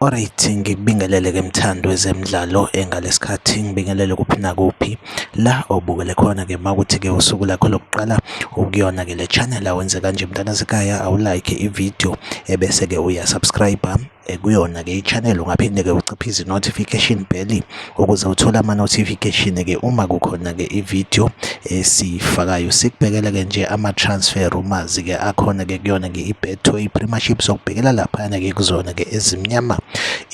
Alright, ngikubingelele ke mthando wezemidlalo engalesikhathi ngibingelele kuphi nakuphi la obukele khona ke makuthi ke usuku lakho lokuqala ukuyona ke le channel awenze kanje mntana sekhaya awulike ivideo ebese ke uyasubscribe eh, kuyona ke ichannel ungaphinde ke uciphe izi notification bell ukuze uthole ama-notification ke uma kukhona ke i-video esiyifakayo sikubhekele ke nje ama-transfer rumors ke akhona ke kuyona ke i-betway premiership sokubhekela laphana ke kuzona ke ezimnyama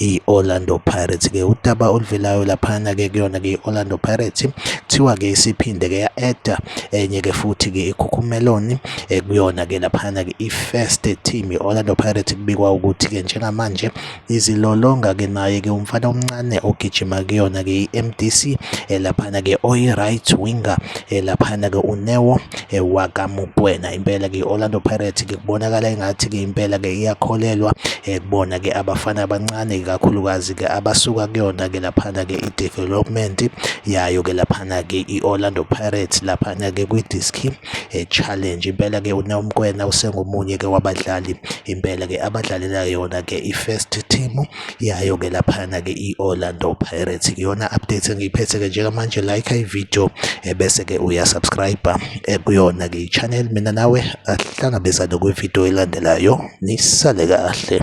i-orlando pirates ke udaba oluvelayo laphana ke kuyona ke i-orlando pirates kuthiwa ke isiphinde ke ya-eda enye ke futhi ke ikhukhumeloni eh, kuyona ke laphana ke i-first team i-orlando pirates kubikwa ukuthi ke njengamanje izilolonga ke naye ke umfana omncane ogijima kuyona ke i-MDC elaphana ke oyi-right winger elaphana ke uNeo wakaMukwena impela ke i-Orlando Pirates ke kubonakala engathi ke impela ke iyakholelwa kubona ke abafana abancane kakhulukazi ke abasuka kuyona ke laphana ke i-development yayo ke laphana ke i-Orlando Pirates laphana ke kwi-Diski eh, challenge impela ke uNomkwena usengomunye ke wabadlali impela ke abadlalela yona ke i-first team yayo ke laphana ke i-Orlando Pirates iyona update engiyiphethe ke njengamanje like i-video eh, bese ke uyasubscribe eh, kuyona ke i-channel mina nawe ahlangabezane kwi-video elandelayo nisale kahle